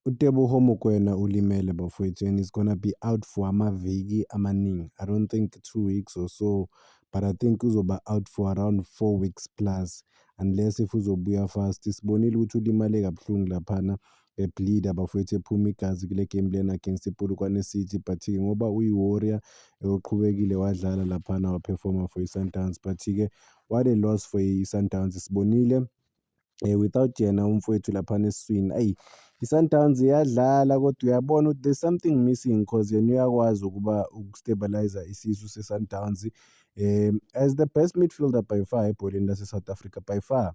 UTeboho Mokoena ulimele bafwethu and he's gonna be out for amaviki amaningi. I don't think two weeks or so but I think uzoba out for around four weeks plus unless if uzobuya fast. Sibonile ukuthi ulimale kabuhlungu laphana ebleeda bafowethu ephuma igazi kule game lena against ipolokwane city but-ke ngoba uyi-warrior eyoqhubekile wadlala laphana waphefoma for i-sundowns but-ke what a loss for i-sundowns sibonile um without yena umfowethu laphana esiswini ayi i-Sundowns iyadlala kodwa uyabona ukuthi there's something missing cause yena uyakwazi ukuba uku-stabilizer isisu se-Sundowns um as the best midfielder by far ebholeni lase-South Africa by far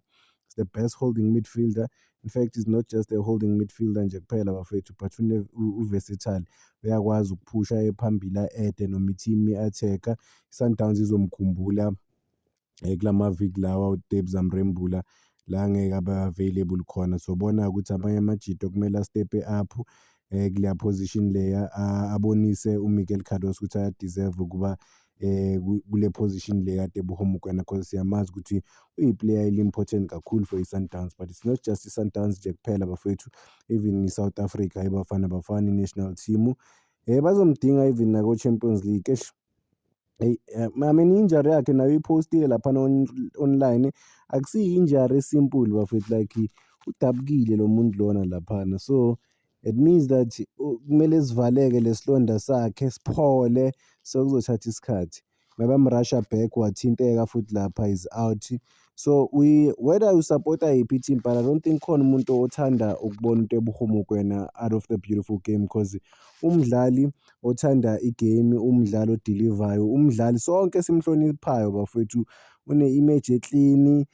is the best holding midfielder in fact is not just a holding midfielder nje kuphela bafethu but uversatile uyakwazi ukuphusha ephambili a-ede noma i-team i-attack-a i-Sundowns izomkhumbula eh, kula maviki lawa uDebs amrembula la ngeke abe available khona sobona ukuthi amanye amajito kumele astepe up eh kuleya position leya abonise uMiguel Cardoso ukuthi ayadeserve ukuba eh kule position le kade buhoma kwena because siyamazi ukuthi uyiplayer eli-important kakhulu for i-sundowns but it's not just i-sundowns nje kuphela bafethu even i-south africa ibafana bafana i-national team um bazomdinga even nako-champions league eish Hey, eh, mama injury yakhe nayo iphostile lapha online akusiyi injury simple bafethu like udabukile lo muntu lona laphana so it means that kumele sivaleke lesilonda sakhe siphole so kuzothatha isikhathi maybe amrusha back wathinteka futhi lapha is out So we whether you support yiphi team but I don't think khona umuntu othanda ukubona into ebuhumu kwena out of the beautiful game because umdlali othanda igame umdlali odelivayo umdlali sonke simhloniphayo bafowethu une-image eklini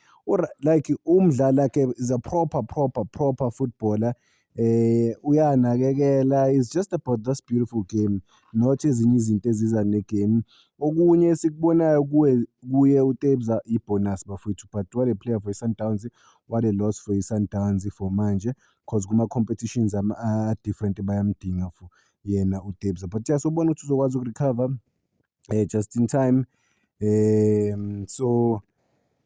like umdlali like is a proper proper proper footballer eh uyanakekela is just about this beautiful game not ezinye izinto eziza negame okunye esikubonayo kuwe kuye uTebza ibonus bafowethu but what a player for iSundowns what a loss for iSundowns for manje cause kuma competitions ama different bayamdinga for yena uTebza but yasobona ukuthi uzokwazi ukurecover eh just in time eh so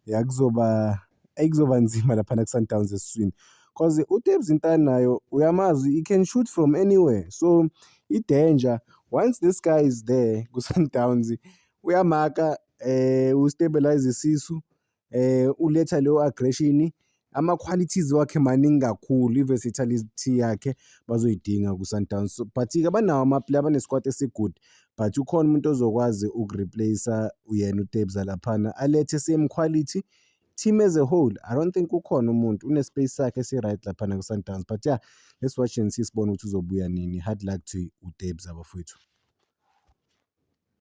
yakuzoba ayikuzoba nzima lapha na Sundowns esiswini cause uTebs Ntana nayo uyamazi he can shoot from anywhere so i danger once this guy is there ku Sundowns uyamaka eh u stabilize isisu um uletha leyo aggression ama-qualities wakhe maningi kakhulu i-versatility yakhe bazoyidinga ku-Sundowns so but-ke abanawo amaplayer abanesikwati esi-good but ukhona umuntu ozokwazi uku-replace-a uyena uTebza laphana alethe same quality team as a whole i don't think ukhona umuntu une-space sakhe esi-right laphana ku-Sundowns but yeah let's watch and see sibone ukuthi uzobuya nini hard luck to utebs abafowethu